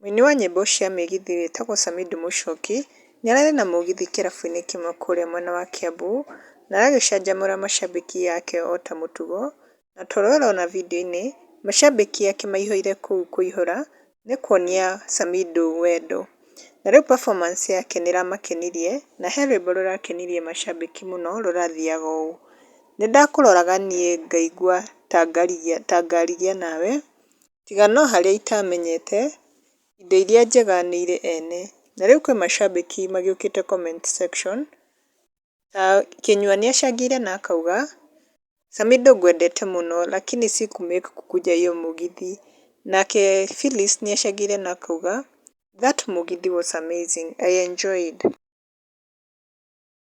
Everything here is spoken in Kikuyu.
Mũini wa nyĩmbo cia mĩgithi wĩtagwo Samido Mũchoki nĩararĩ na mũgithi kĩrabu-inĩ kĩmwe kũrĩa mwena wa Kiambu na aragĩcanjamũra macambĩki ake ota mũtugo na ta ũrĩa ũrona video-inĩ macambĩki ake maihũire kũu kũihũra nĩ kuonia Samido wendo. Na rĩu performance yake nĩ ĩramakenirie na he rwĩmbo rũrakenirie macambĩki mũno rũrathiaga ũũ, Nĩndakũroraga niĩ ngaigua ta ngarigia nawe, tiga no harĩa itamenyete, indo iria njega nĩ irĩ ene, na rĩu kwĩ macambĩki magĩũkĩte comment section, ta Kĩnyua nĩ acangĩire na akauga, Samido ngwendete mũno lakini siku make kukuja hiyo mũgithi, nake Phyllis nĩ acangĩire na akauga, that mũgithi was amazing, I enjoyed.